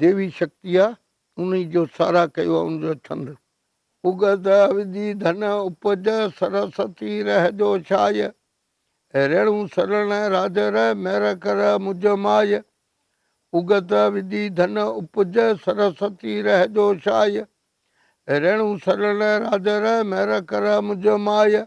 ديوي شڪتيء انهيء جو ساراهه ڪيو ۽ ان جو ڇند. اگهه وجهي ڌن اپج، سرسوتي رهه جو شايع. ريڻو سرڻ راج رهه، مهر ڪر مجھ ماء. اگهه وجهي ڌن اپج، سرسوتي رهه جو شايع. ريڻو سرڻ راج رهه، مهر ڪر مجھ ماء.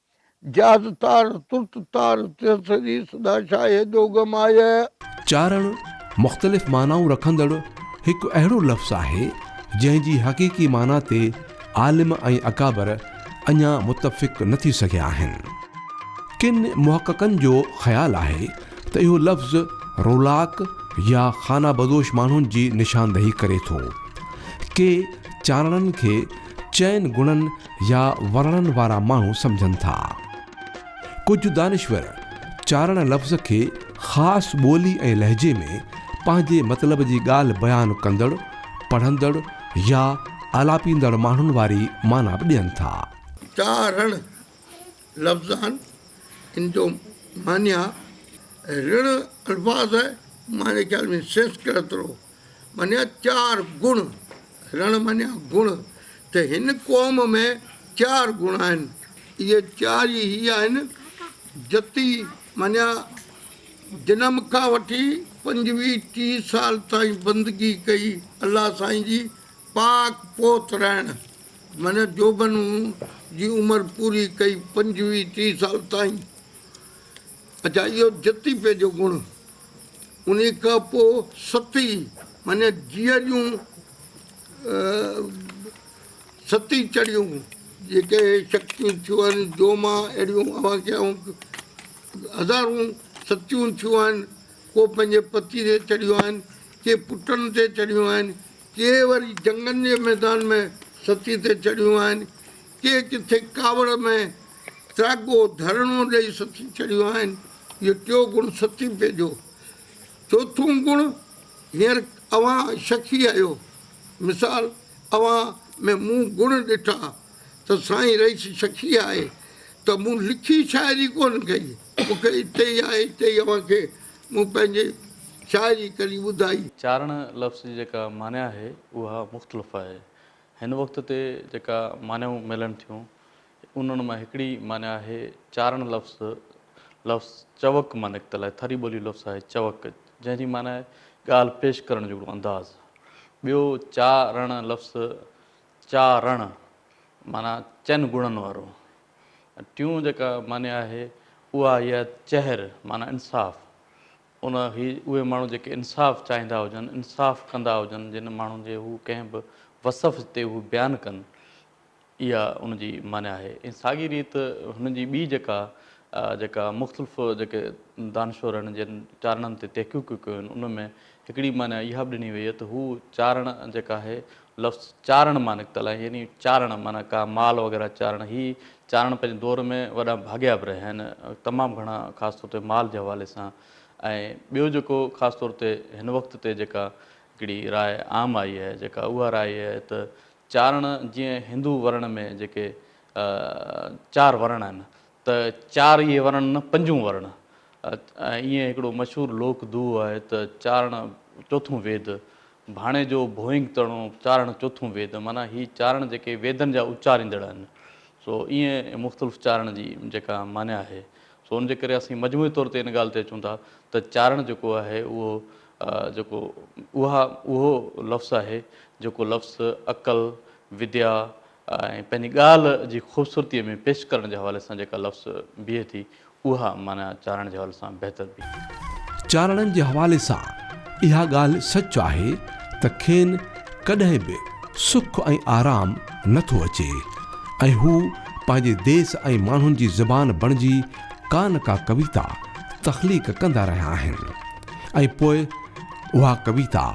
جاز تار ترت تار تيس ٿري سدا شاهه هيڏو غم آيه. چارڻ، مختلف معنائون رکندڙ هڪ اهڙو لفظ آهي، جنهن جي حقيقي معنيٰ تي عالم ۽ اڪابر اڃا متفق نه ٿي سگهيا آهن. ڪن محققن جو خيال آهي ته اهو لفظ رولاڪ يا خانه بدوش ماڻهن جي نشاندهي ڪري ٿو. ڪي چارڻن کي چئن گڻن يا ورڻن وارا ماڻهو سمجهن ٿا. ڪجهه دانشور چارڻ لفظ کي خاص ٻولي ۽ لهجي ۾ پنهنجي مطلب جي ڳالهه بيان ڪندڙ، پڙهندڙ يا آلاپيندڙ ماڻهن واري معنيٰ به ڏين ٿا. چارڻ لفظان ان جو معنيٰ رڻ الفاظ آهي، معني خيال ۾ سنسڪرت رو منيا چار گڻ، رڻ منيا گڻ، ته هن قوم ۾ چار گڻ آهن، اهي چار ئي هي آهن، جتي منيا جنم کان وٺي پنجويهه ٽيهه سال تائين بندگي ڪئي الله سائين جي، پاڪ پوت رهڻ منيا جوڀن جي عمر پوري ڪئي پنجويهه ٽيهه سال تائين، اڇا اهو جتي پي جو گڻ. انهيء کان پوء ستي معني جيء جون ستي چڙهيون جيڪي شڪتيون ٿيون آهن، جو مان اهڙيون اوهان کي آئون هزارون ستيون ٿيون آهن، ڪو پنهنجي پتي تي چڙهيون آهن، ڪي پٽن تي چڙهيون آهن، ڪي وري جنگن جي ميدان ۾ ستي تي چڙهيون آهن، ڪي ڪٿي ڪاوڙ ۾ تراڳو ڌرڻو ڏئي سٿي ڇڏيون آهن. اهو ٽيون گڻ سٿي پئجو. چوٿون گڻ هينئر اوهان شخي آهيو. مثال، اوهان ۾ مون گڻ ڏٺا ته سائين رئيس شخي آهي ته مون لکي شاعري ڪونه ڪئي. مون کي اتي ئي آهي اتي ئي اوهان کي مون پنهنجي شاعري ڪري ٻڌائي. چارڻ لفظ جي جيڪا معني آهي اها مختلف آهي. هن وقت تي جيڪا معنيون ملن ٿيون انهن مان هڪڙي معني آهي چارڻ لفظ لفظ چوڪ مان نڪتل آهي ٿري ٻولي لفظ آهي چوڪ جنهن جي معني آهي ڳالهه پيش ڪرڻ جهڙو انداز ٻيو چا رڻ لفظ چا رڻ معنيٰ چئن گڻن وارو ٽيون جيڪا معني آهي اها آهي چهر معنيٰ انصاف ان هي اهي ماڻهو جيڪي انصاف چاهيندا هجن، انصاف ڪندا هجن، جن ماڻهن جي هو ڪنهن به وصف تي هو بيان ڪن، اها ان جي معني آهي. ۽ ساڳي ريت هن جي ٻي جيڪا جيڪا مختلف جيڪي دانشورن جن چارڻن تي تحقيقون ڪيون آهن، ان ۾ هڪڙي معني اها به ڏني وئي آهي ته هو چارڻ جيڪا آهي لفظ چارڻ مان نڪتل آهي يعني چارڻ معنيٰ ڪا مال وغيره چارڻ هي چارڻ پنهنجي دور ۾ وڏا ڀاڳيا به رهيا آهن تمام گهڻا خاص طور تي مال جي حوالي سان ۽ ٻيو جيڪو خاص طور تي هن وقت تي جيڪا هڪڙي راء عام آئي آهي جيڪا اها راء آهي ته چارڻ جيئن هندو ورڻ ۾ جيڪي چار ورڻ آهن ته چار اهي ورڻ نه پنجون ورڻ. ائين هڪڙو مشهور لوڪ دوهو آهي ته چارڻ چوٿون ويد، ڀاڻي جو ڀوئنگ تڻو، چارڻ چوٿون ويد. معنيٰ هي چارڻ جيڪي ويدن جا اچاريندڙ آهن. سو ائين مختلف چارڻ جي جيڪا معنيٰ آهي. سو ان جي ڪري اسين مجموعي طور تي ان ڳالهه تي اچون ٿا ته چارڻ جيڪو آهي اهو جيڪو اها اهو لفظ آهي جيڪو لفظ عقل، وديا، ۽ پنهنجي ڳالهه جي خوبصورتيء ۾ پيش ڪرڻ جي حوالي سان جيڪا لفظ بيهي ٿي، اها معنيٰ چارڻ جي حوالي سان بهتر بيهي ٿي. چارڻن جي حوالي سان اها ڳالهه سچ آهي ته کين ڪڏهن به سک ۽ آرام نه ٿو اچي ۽ هو پنهنجي ديس ۽ ماڻهن جي زبان بڻجي ڪا نه ڪا ڪويتا تخليق ڪندا رهيا آهن ۽ پوء اها ڪويتا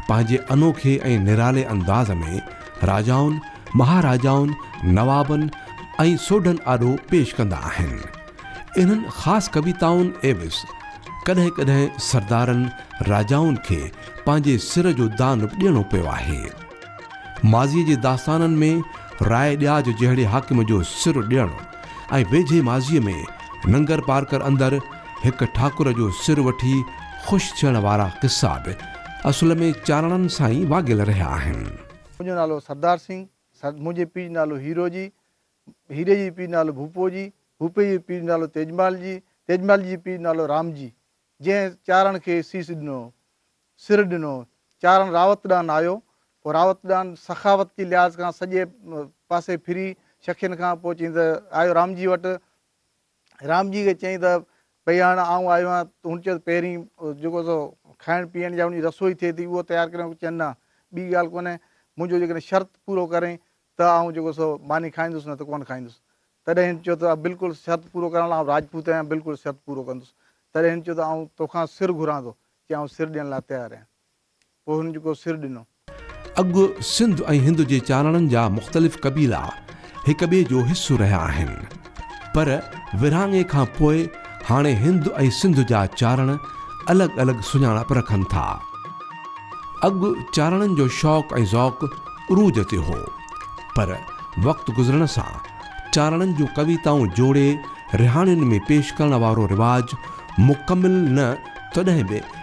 پنهنجي انوکي ۽ نرالي انداز ۾ راجائن، مهاراجائن، نوابن ۽ سوڍن آڏو پيش ڪندا آهن. انهن خاص ڪويتائن عيوض ڪڏهن ڪڏهن سردارن، راجائن کي پنهنجي سر جو دان به ڏيڻو پيو آهي. ماضيء جي داستانن ۾ راء ڏياج جهڙي حاڪم جو سر ڏيڻ ۽ ويجهي ماضيء ۾ ننگرپارڪر اندر، هڪ ٺاڪر جو سر وٺي خوش ٿيڻ وارا قصا به اصل ۾ چاڙهڻن سان ئي واڳيل رهيا آهن. منهنجو نالو سردار سنگهه، سر، منهنجي پيء جو نالو هيرو جي، هيري جي پيء جو نالو ڀوپو جي، ڀوپي جي پيء جو نالو تيجمال جي، تيجمالجي جي پيء جو نالو رام جي، جنهن چاڙهڻ کي سيس ڏنو، سر ڏنو. چاڙهڻ راوت ڏانهن آيو، پوء راوت ڏانهن سخاوت جي لحاظ کان سڄي پاسي ڦري شڪين کان پوء چيائين ته آيو رام جي وٽ. رام جي کي چيائين ته ڀئي هاڻ آئون آيو آهيان. هن چيو ته پهرين جيڪو سو کائڻ پيئڻ جا انهي جي رسوئي ٿئي ٿي اهو تيار ڪريان. چيائين نه ٻي ڳالهه ڪونهي منهنجو جيڪڏهن شرط پورو ڪرين ته آئون جيڪو سو ماني کائيندس نه ته ڪونه کائيندس. تڏهن هن چيو ته بلڪل شرط پورو ڪرڻ لاء آئون راجپوت آهيان بلڪل شرط پورو ڪندس. تڏهن هن چيو ته آئون توکان سر گهران ٿو. چيائين آئون سر ڏيڻ لاء تيار آهيان. پوء هن جيڪو سر ڏنو. اڳ سنڌ ۽ هند جي چاناڻن جا مختلف قبيلا هڪ ٻئي جو حصو رهيا آهن. پر ورهاڱي کان پوء هاڻي هند ۽ سنڌ جا چاناڻ الڳ الڳ سڃاڻپ رکن ٿا. اڳ چاناڻن جو شوق ۽ ذوق عروج تي هو. پر وقت گذرڻ سان چاناڻن جون ڪويتائون جوڙي رهاڻين ۾ پيش ڪرڻ وارو رواج مڪمل نه تڏهن به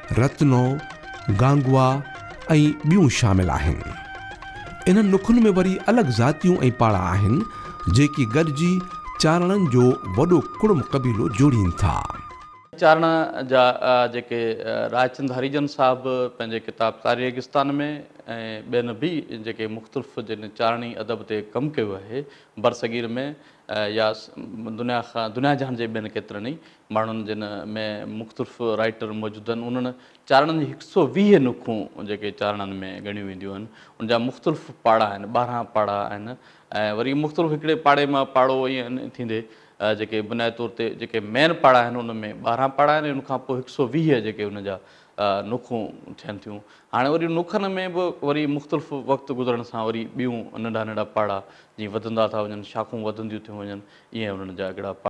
رتنو، گانگوا ۽ ٻيون شامل آهن. انهن نخن ۾ وري الڳ ذاتيون ۽ پاڙا آهن، جيڪي گڏجي چارڻن جو وڏو ڪڙم قبيلو جوڙين ٿا. چارڻ جا جيڪي رائچند هريجن صاحب پنهنجي ڪتاب تاري ريگستان ۾ ۽ ٻين به جيڪي مختلف جن چارڻي ادب تي ڪم ڪيو آهي، برصغير ۾ يا دنيا کان دنيا جهان جي ٻين ڪيترن ئي ماڻهن جن ۾ مختلف رائيٽر موجود آهن انهن چارڻن جي هڪ سئو ويهه نکون جيڪي چارڻن ۾ ڳڻيون وينديون آهن ان جا مختلف پاڙا آهن ٻارهن پاڙا آهن ۽ وري مختلف هڪڙي پاڙي مان پاڙو ائين ٿيندي جيڪي بنيادي طور تي جيڪي مين پاڙا آهن ان ۾ ٻارهن پاڙا آهن ان کان پوء هڪ سئو ويهه جيڪي ان جا نکون ٿين ٿيون هاڻي وري نکن ۾ به وري مختلف وقت گذرڻ سان وري ٻيون ننڍا ننڍا پاڙا جي وڌندا ٿا وڃن شاخون وڌنديون ٿيون وڃن ائين انهن جا هڪڙا پاڙا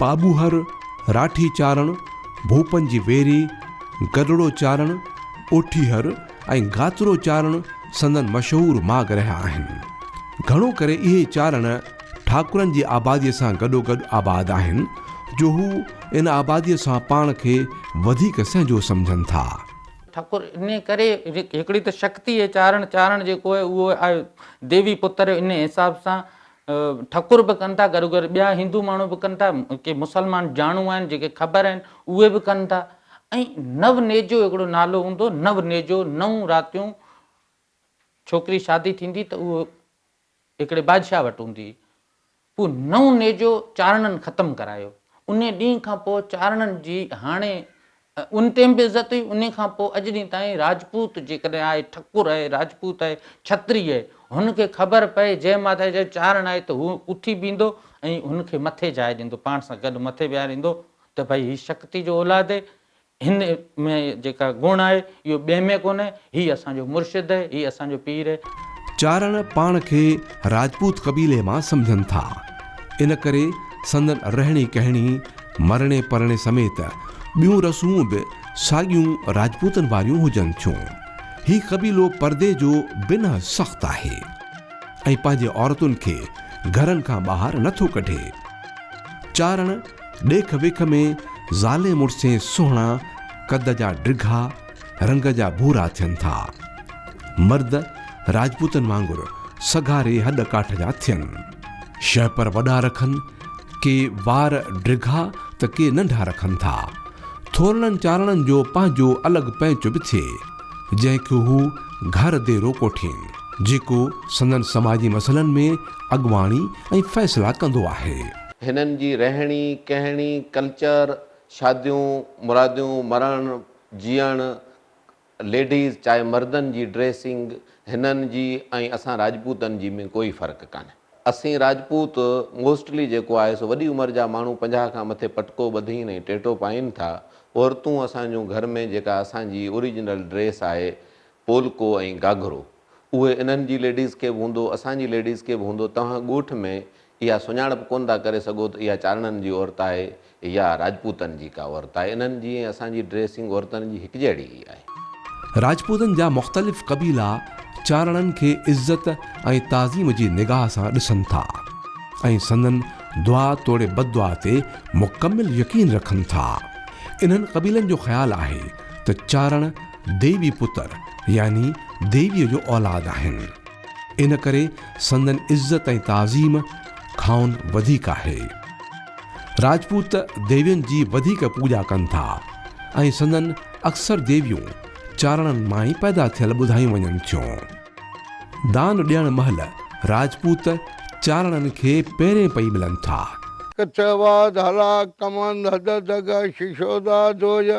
پاٻوهر، راٺي چارڻ، ڀوپن جي ويري، گڏڙو چارڻ، اوٺيهر ۽ گاترو چارڻ سندن مشهور ماڳ رهيا آهن. گهڻو ڪري اهي چارڻ ٺاڪرن جي آباديء سان گڏوگڏ آباد آهن، جو هو ان آباديء سان پاڻ کي وڌيڪ سهنجو سمجهن ٿا. ٺڪر انهيء ڪري هڪڙي ته شڪتي اهي چارڻ چارڻ جيڪو اهو آهي، ديوي پتر ان حساب سان ٺڪر به ڪن ٿا گروگير ٻيا هندو ماڻهو به ڪن ٿا ڪي مسلمان جاڻو آهن جيڪي خبر آهن اهي به ڪن ٿا ۽ نو نيجو هڪڙو نالو هوندو نو نيجو نو راتيون ڇوڪري شادي ٿيندي ته اهو هڪڙي بادشاهه وٽ هوندي هو نئون نيجو چارڻن ختم ڪرايو. انهي ڏينهن کان پوء چارڻن جي هاڻي ان ٽيم به عزت هئي، انهي کان پوء اڄ ڏينهن تائين راجپوت جيڪڏهن آهي، ٺڪر آهي، راجپوت آهي، ڇتري آهي، هن کي خبر پئي جنهن ماڌاء جي چارڻ آهي ته هو اٿي بيهندو ۽ هن کي مٿي جاء ڏيندو، پاڻ سان گڏ مٿي ويهاريندو ته ڀئي هي شڪتي جو اولاد هي، هن ۾ جيڪا گڻ آهي اهو ٻئي ۾ ڪونهي. هي اسان جو مرشد اهي، هي اسان جو پير اهي. چارڻ پاڻ کي راجپوت قبيلي مان سمجهن ٿا، ان ڪري سندن رهڻي ڪهڻي، مرڻي پرڻي سميت ٻيون رسمون به ساڳيون راجپوتن واريون هجن ٿيون. هي قبيلو پردي جو بنهه سخت آهي ۽ پنهنجي عورتن کي گهرن کان ٻاهر نه ٿو ڪڍي. چارڻ. ڏيک ويک ۾ زالين مڙسين سهڻا قد جا ڊگها، رنگ جا ڀورا ٿين ٿا. مرد راجپوتن وانگر سگهاري هڏ ڪاٺ جا ٿين. شهپر وڏا رکن، ڪي وار ڊگها ته ڪي ننڍا رکن ٿا. ٿورڙن چارڻن جو پنهنجو الڳ پئنچ به ٿئي، جنهن کي هو گهر ديرو ڪوٺين، جيڪو سندن سماجي مسئلن ۾ اڳواڻي ۽ فيصلا ڪندو آهي. هنن جي رهڻي، ڪهڻي، ڪلچر، شاديون، مراديون، مرڻ، جيئڻ، ليڊيز چاهي مردن جي ڊريسنگ، هنن جي ۽ اسان راجپوتن جي ۾ ڪوئي فرق ڪانهي. اسين راجپوت موسٽلي جيڪو آهي سو وڏي عمر جا ماڻهو پنجاهه کان مٿي پٽڪو ٻڌين ۽ ٽيٽو پائين ٿا. عورتون اسان جون گهر ۾ جيڪا اسان جي اوريجنل ڊريس آهي پولڪو ۽ گاگهرو اهي انهن جي ليڊيز کي به هوندو، اسان جي ليڊيز کي به هوندو، توهان ڳوٺ ۾ اها سڃاڻپ ڪونه ٿا ڪري سگهو ته اها چارڻن جي عورت آهي يا راجپوتن جي ڪا عورت آهي. انهن جي ۽ اسان جي ڊريسنگ عورتن جي هڪجهڙي ئي آهي. راجپوتن جا مختلف قبيلا چارڻن کي عزت ۽ تعظيم جي نگاهه سان ڏسن ٿا ۽ سندن دعا توڙي بددعا تي مڪمل يقين رکن ٿا. انهن قبيلن جو خيال آهي ته چارڻ ديوي پتر يعني ديويء جو اولاد آهن. ان ڪري سندن عزت ۽ تعظيم کانئن وڌيڪ آهي. راجپوت ديوين جي وڌيڪ پوڄا ڪن ٿا ۽ سندن اڪثر ديويون چارڻن مان ئي پيدا ٿيل ٻڌايون وڃن ٿيون. دان ڏيڻ مهل راجپوت چارڻن کي پيرين پئي ملن ٿا. ڪچوا، ڌالا، ڪمند، هددگه، ششودا، دويا،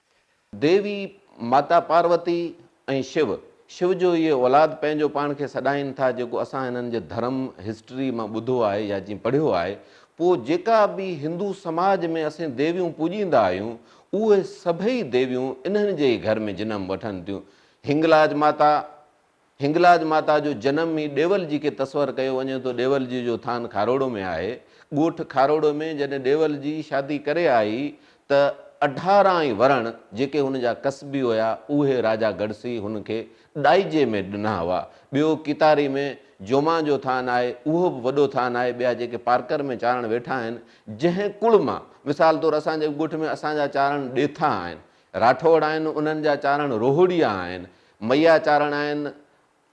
ديوي، ماتا پاروتي ۽ شو، شو جو اهي اولاد پنهنجو پاڻ کي سڏائين ٿا جيڪو اسان هنن جي ڌرم، هسٽري، مان ٻڌو آهي يا جيئن پڙهيو آهي، پوء جيڪا به هندو سماج ۾ اسين ديويون پوڄيندا آهيون، اهي سڀئي ديويون انهن جي ئي گهر ۾ جنم وٺن ٿيون، هنگلاج ماتا، هنگلاج ماتا جو جنم ئي ڏيول جي کي تصور ڪيو وڃي ٿو ڏيول جي جو ٿان کاروڙو ۾ آهي ڳوٺ کاروڙو ۾ جڏهن ڏيول جي شادي ڪري آئي ته اڍارا ۽ ورڻ جيڪي هن جا ڪسبي هيا اهي راجا گڙسي هن کي ڏائجي ۾ ڏنا هئا ٻيو ڪيتاري ۾ جومان جو ٿان آهي اهو به وڏو ٿان آهي ٻيا جيڪي پارڪر ۾ چارڻ ويٺا آهن جنهن ڪوڙ مان مثال طور اسان جي ڳوٺ ۾ اسان جا چارڻ ڏيٿا آهن راٺوڙ آهن، انهن جا چارڻ روهڙيا آهن، مئيا چارڻ آهن،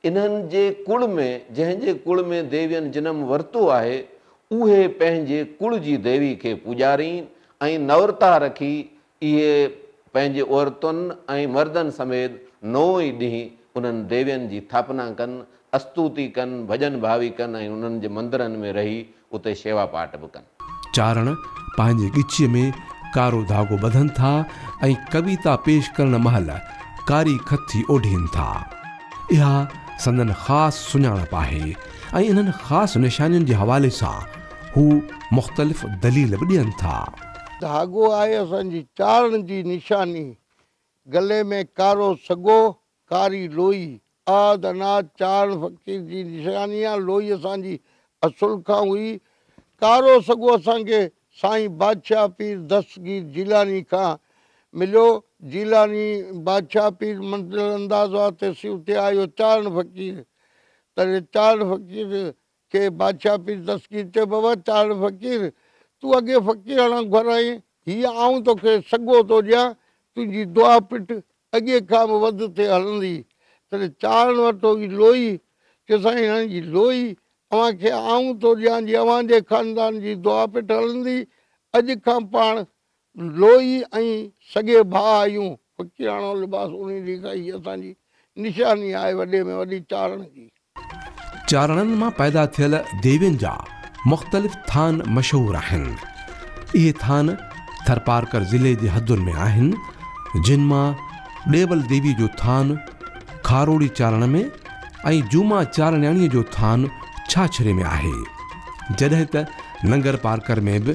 انهن جي ڪل ۾ جنهن جي ڪل ۾ ديوين جنم ورتو آهي، اهي پنهنجي ڪل جي ديوي کي پوڄارين ۽ نورتا رکي اهي پنهنجي عورتن ۽ مردن سميت نو ئي ڏينهن انهن ديوين جي ٿاپنا ڪن استوتي ڪن، ڀڄن ڀاوي ڪن ۽ انهن جي مندرن ۾ رهي اتي شيوا پاٽ به ڪن. چارڻ پنهنجي ڳچيء ۾ ڪارو ڌاڳو ٻڌن ٿا ۽ ڪويتا پيش ڪرڻ مهل ڪاري کٿي اوڍين ٿا. اها سندن خاص سڃاڻپ آهي ۽ انهن خاص نشانين جي حوالي سان هو مختلف دليل به ڏين ٿا. ڌاڳو آهي اسان جي چارڻ جي نشاني. گلي ۾ ڪارو سڳو ڪاري لوئي، آد اناج چاڙهڻ فقير جي نشاني آ، لوئي اسان جي اصل کان هئي، ڪارو سڳو اسان کي سائين بادشاهه پير دستگير جيلاني کان مليو، جيلاني بادشاهه پير منزل انداز واسطي سيوتي آيو چاڙهڻ فقير تڏهن چاڙهڻ فقير کي بادشاهه پير دستگير چيو ويو، چاڙهه فقير! تون اڳي فقيراڻا گهر آهين، هيء آئون توکي سڳو ٿو ڏيان، تنهنجي دعا پٽ اڳي کان به وڌ ٿي هلندي. تڏهن چاڙهن وٺو هئي لوئي، چيو سائين هن جي لوئي اوهان کي آئون ٿو ڏيان جي اوهان جي خاندان جي دعا پٽ هلندي، اڄ کان پاڻ لوئي ۽ سڳي ڀاء آهيون، فقيراڻو لباس اوڙهي ڏيکاء هي اسان جي نشاني آهي وڏي ۾ وڏي چارڻ جي. چارڻن مان پيدا ٿيل ديوين جا مختلف ٿان مشهور آهن. اهي ٿان ٿرپارڪر ضلعي جي حدن ۾ آهن، جن مان ڏيول ديوي جو ٿان کاروڙي چارڻ ۾ ۽ جوما چارڻياڻيء جو ٿان ڇاڇري ۾ آهي، جڏهن ته ننگرپارڪر ۾ به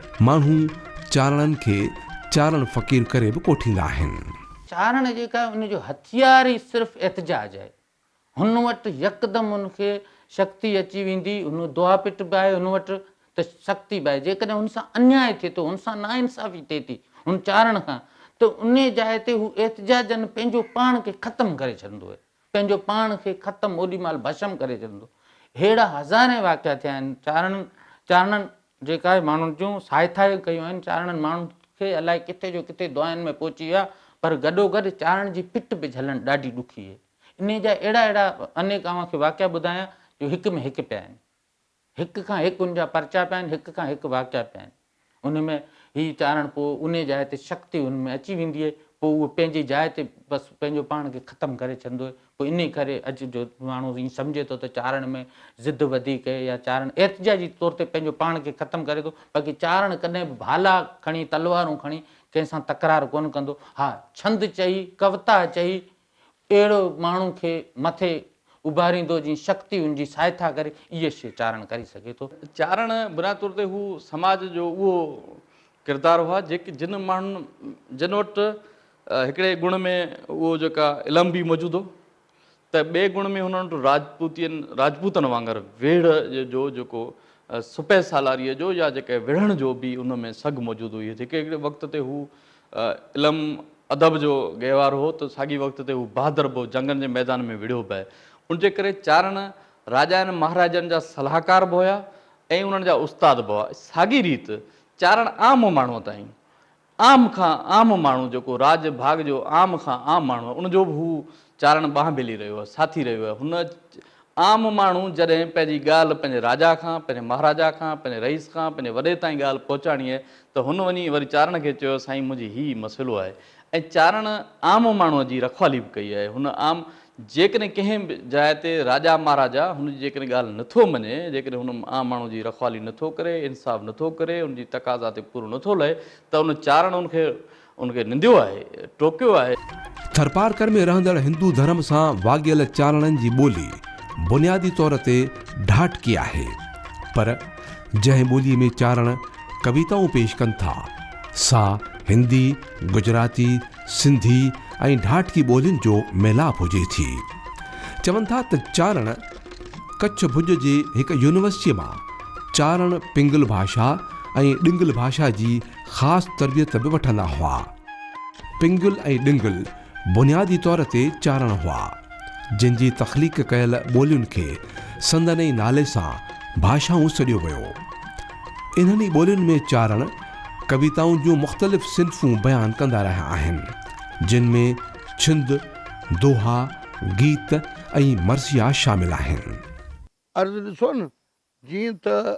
ماڻهو چارڻن کي چارڻ فقير ڪري به ڪوٺيندا آهن. چارڻ جيڪا آهي ان جو هٿيار ئي صرف احتجاج آهي. هن وٽ يڪدم هن کي شڪتي اچي ويندي، هن دعا پٽ به آهي هن وٽ ته شڪتي به آهي. جيڪڏهن هن سان انياء ٿئي ٿو، هن سان ناانصافي ٿئي ٿي هن چارڻ کان ته انهي جاء تي هو احتجاجن پنهنجو پاڻ کي ختم ڪري ڇڏندو آهي. پنهنجو پاڻ کي ختم اوڏي مهل ڀشم ڪري ڇڏندو. ههڙا هزارين واقعا ٿيا آهن. چارڻن چارڻن جيڪا ماڻهن جون ساهٿايون ڪيون آهن، چارڻن ماڻهن کي الائي ڪٿي جو ڪٿي دعائن ۾ پهچي ويا، پر گڏوگڏ چارڻ جي پٽ به جهلڻ ڏاڍي ڏکي هئي. انهيء جا اهڙا اهڙا انيڪ اوهان کي واقعا ٻڌايان، جو هڪ ۾ هڪ پيا آهن. هڪ کان هڪ ان جا پرچا پيا آهن، هڪ کان هڪ واقعا پيا آهن. ان ۾ هي چارڻ پوء انهي جاء تي شڪ تي ان ۾ اچي ويندي آهي، پوء اهو پنهنجي جاء تي بس پنهنجو پاڻ کي ختم ڪري ڇڏندو آهي. پوء انهي ڪري اڄ جو ماڻهو ائين سمجهي ٿو ته چارڻ ۾ ضد وڌيڪ اهي يا چارڻ احتجاجي طور تي پنهنجو پاڻ کي ختم ڪري ٿو، باقي چارڻ ڪڏهن به ڀالا کڻي تلوارون کڻي ڪنهن سان تڪرار ڪونه ڪندو. ها ڇند چئي، ڪوتا چئي، اهڙو ماڻهو کي مٿي اڀاريندو جئين شڪتي ان جي سهائتا ڪري، اهي شيء چارڻ ڪري سگهي ٿو. چارڻ بنياد طور تي هو سماج جو اهو ڪردار هئا جيڪي جن ماڻهن جن وٽ هڪڙي گڻ ۾ اهو جيڪا علم به موجود هو ته ٻئي گڻ ۾ هنن وٽ راجپوتين راجپوتن وانگر ويڙهه جو جيڪو سپهه سالاريء جو يا جيڪي وڙهڻ جو به ان ۾ سگهه موجود هئي جيڪي هڪڙي وقت تي هو علم ادب جو گهوار هو ته ساڳي وقت تي هو بهادر به هو، جنگن جي ميدان ۾ وڙهيو به. ان جي ڪري چارڻ راجائن مهاراجن جا صلاحڪار به هيا ۽ انهن جا استاد به هئا. ساڳي ريت چارڻ عام ماڻهوء تائين، عام کان عام ماڻهو جيڪو راڄ ڀاڳ جو عام کان عام ماڻهو هو، ان جو به هو چارڻ ٻانهه ڀيلي رهيو هو، ساٿي رهيو هو. هن عام ماڻهو جڏهن پنهنجي ڳالهه پنهنجي راجا کان، پنهنجي مهاراجا کان، پنهنجي رئيس کان، پنهنجي وڏي تائين ڳالهه پهچاڻي هئي ته هن وڃي وري چارڻ کي چيو سائين منهنجي هي مسئلو آهي ۽ چارڻ عام ماڻهو جي رکوالي به ڪئي آهي هن عام جيڪڏهن ڪنهن به جاء تي راجا مهاراجا هن جي جيڪڏهن ڳالهه نٿو مڃي جيڪڏهن هن عام ماڻهو جي رکوالي نٿو ڪري انصاف نٿو ڪري ان جي تقاضا تي پورو نٿو لهي ته ان چارڻ ان کي ان کي ننديو آهي، ٽوڪيو آهي. ٿرپارڪر ۾ رهندڙ هندو ڌرم سان واڳيل چارڻن جي ٻولي بنيادي طور تي ڍاٽڪي آهي، پر جنهن ٻوليء ۾ چارڻ ڪويتائون پيش ڪن ٿا، سا هندي، گجراتي، سنڌي ۽ ڍاٽڪي ٻولين جو ميلاپ هجي ٿي. چون ٿا ته چارڻ ڪڇ ڀڄ جي هڪ يونيورسٽيء مان چارڻ پنگل ڀاشا ۽ ڏنگل ڀاشا جي خاص تربيت به وٺندا هئا. پنگل ۽ ڊنگل بنيادي طور تي چارڻ هئا، جن جي تخليق ڪيل ٻولين کي سندن ئي نالي سان ڀاشائون سڏيو ويو. انهن ئي ٻولين ۾ چارڻ ڪويتائن جون مختلف صنفون بيان ڪندا رهيا آهن، جن ۾ ڇند، دوها، گيت ۽ مرثيا شامل آهن. عرض ڏسو نه، جيئن ته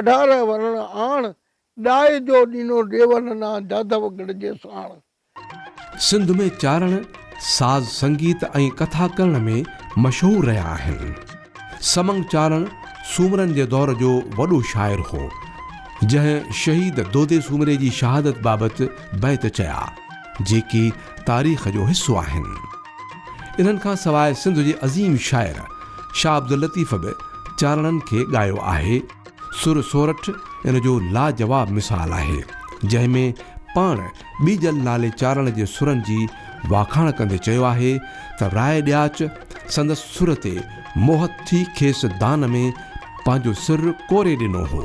اڍارنهن ورڻ آڻ، ڏاهي جو ڏينو ڏيول نا جاڌو گڙهه جي ساڻ. سنڌ ۾ چارڻ ساز سنگيت ۽ ڪٿا ڪرڻ ۾ مشهور رهيا آهن. سمنگ چارڻ سومرن جي دور جو وڏو شاعر هو، جنهن شهيد دودي سومري جي شهادت بابت بيت چيا، جيڪي تاريخ جو حصو آهن. انهن کان سواء سنڌ جي عظيم شاعر شاهه عبداللطيف به چانئڙن کي ڳايو آهي. سر سورٺ ان جو لاجواب مثال آهي، جنهن ۾ پاڻ ٻيجل نالي چانئڙ جي سرن جي واکاڻ ڪندي چيو آهي ته راء ڏياچ سندس سر تي موهت ٿي کيس دان ۾ پنهنجو سر ڪوري ڏنو هو.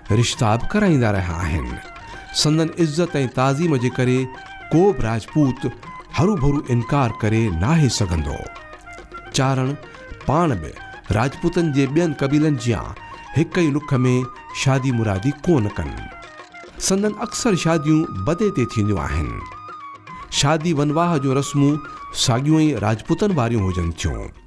رشتا به ڪرائيندا رهيا آهن. سندن عزت ۽ تعظيم جي ڪري ڪو به راجپوت هروڀرو انڪار ڪري ناهي سگهندو. چارڻ پاڻ به راجپوتن جي ٻين قبيلن جيان هڪ ئي لک ۾ شادي مرادي ڪونه ڪن. سندن اڪثر شاديون بدي تي ٿينديون آهن. شادي ونواهه جون رسمون ساڳيون ئي راجپوتن واريون هجن ٿيون.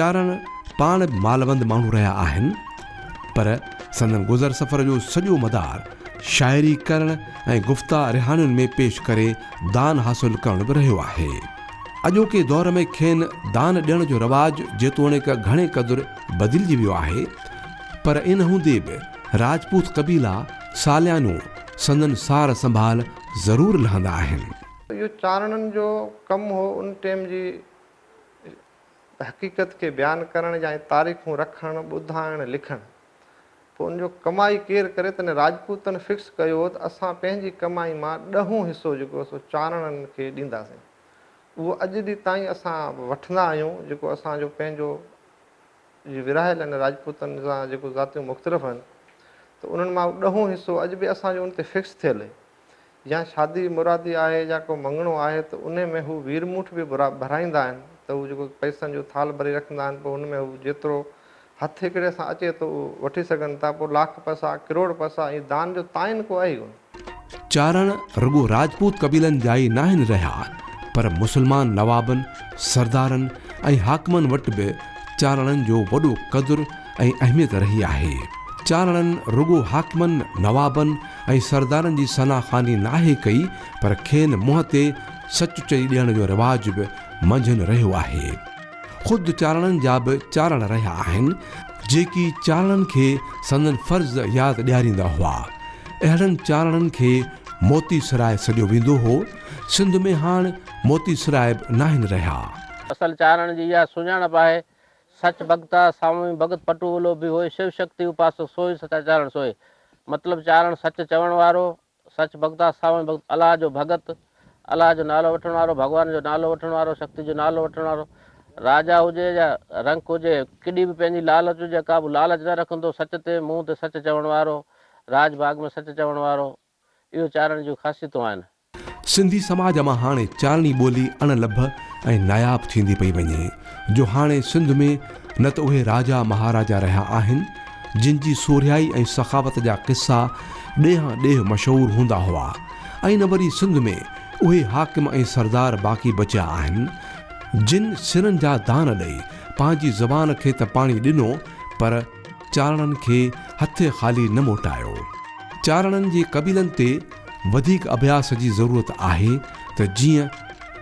چارڻ پاڻ به مالوند ماڻهو رهيا آهن پر سندن گذر سفر جو سڄو مدار شاعري ڪرڻ ۽ گفتا رهاڻين ۾ پيش ڪري دان حاصل ڪرڻ به رهيو آهي اڄوڪي دور ۾ کين دان ڏيڻ جو رواج جيتوڻيڪ گهڻي قدر بدلجي ويو آهي پر ان هوندي به راجپوت قبيلا ساليانو سندن سار سنڀال ضرور لهندا آهن. اهو چارڻن جو ڪم هو ان ٽيم جي حقيقت کي بيان ڪرڻ يا تاريخون رکڻ، ٻڌائڻ، لکڻ. پوء ان جو ڪمائي ڪير ڪري تڏهن راجپوتن فڪس ڪيو هو ته اسان پنهنجي ڪمائي مان ڏهون حصو جيڪو سو چارڻن کي ڏينداسين. اهو اڄ ڏي تائين اسان وٺندا آهيون جيڪو اسان جو پنهنجو جي ورهايلن راجپوتن سان جيڪو ذاتيون مختلف هن ته انهن مان ڏهون حصو اڄ به اسان جو ان تي فڪس ٿيل هي يا شادي مرادي آهي يا ڪو مڱڻو آهي ته انهي ۾ هو ويرموٺ به ڀرائيندا آهن ته هو جيڪو پئسن جو ٿالهه ڀري رکندا آهن پوء ان ۾ هو جيترو هٿ هڪڙي سان اچي ٿو اهو وٺي سگهن ٿا پوء لاک پئسا ڪروڙ پئسا ائين دان جو تعين ڪو آهي ڪونه. چارڻ رڳو راجپوت قبيلن جا ئي ناهن رهيا پر مسلمان نوابن، سردارن ۽ حاڪمن وٽ به چارڻن جو وڏو قدر ۽ اهميت رهي آهي. چارڻن رڳو حاڪمن، نوابن ۽ سردارن جي ثنا خواني ناهي ڪئي پر کين منهن تي سچ چئي ڏيڻ جو رواج به منجهن رهيو آهي. خود چارڻن جا به چارڻ رهيا آهن، جيڪي چارڻن کي سندن فرض ياد ڏياريندا هئا. اهڙن چارڻن کي موتي سراء سڏيو ويندو هو. سنڌ ۾ هاڻ موتي سراء به ناهن رهيا. اصل چارڻ جي اها سڃاڻپ آهي، سچ ڀڳتا، سامي ڀڳت پٽوولو به هوء شو شڪتي اپاسڪ سوئي سچا چارڻ سوئي. مطلب چارڻ سچ چوڻ وارو، سچ بغداد ساوڻ بغداد الله جو ڀڳت الله جو نالو وٺڻ وارو ڀڳوان جو نالو وٺڻ وارو شڪتي جو نالو وٺڻ وارو راجا هجي يا رنڪ هجي ڪيڏي به پنهنجي لالچ هجي ڪا به لالچ نه رکندو سچ تي منهن تي سچ چوڻ وارو راج باغ ۾ سچ چوڻ وارو اهو چارڻي جون خاصيتون آهن. سنڌي سماج مان هاڻي چارڻي ٻولي اڻ لڀ ۽ ناياب ٿيندي پئي وڃي. جو هاڻي سنڌ ۾ نه ته اهي راجا مهاراجا رهيا آهن، جن جي سورهيائي ۽ سخاوت جا قصا ڏيهان ڏيهه مشهور هوندا هئا ۽ نه وري سنڌ ۾ اهي حاڪم ۽ سردار باقي بچيا آهن، جن سرن جا دان ڏئي پنهنجي زبان کي ته پاڻي ڏنو پر. چارڻن کي هٿ خالي نه موٽايو. چارڻن جي قبيلن تي وڌيڪ اڀياس جي ضرورت آهي ته جيئن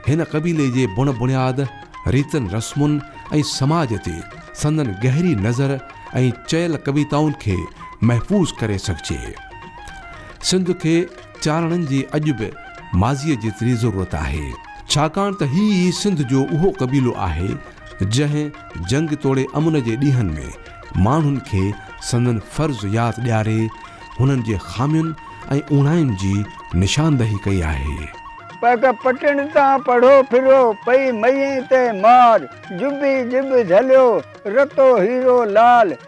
هن قبيلي جي بڻ بڻياد، ريتن رسمن ۽ سماج تي سندن گهري نظر ۽ چيل ڪويتائن کي محفوظ ڪري سگهجي. سنڌ کي چارڻن جي اڄ به ماضيء جيتري ضرورت آهي. ڇاڪاڻ ته هي ئي سنڌ جو اهو قبيلو آهي جنهن. جنگ توڙي امن جي ڏينهن ۾ ماڻهن کي سندن فرض ياد ڏياري هنن جي خامين ۽ اوڻاين جي نشاندهي ڪئي آهي. پڪ پٽڻ تان پڙهو ڦرو، پئي مئين تي مار، جبي جب جهليو، رتو هيرو لال،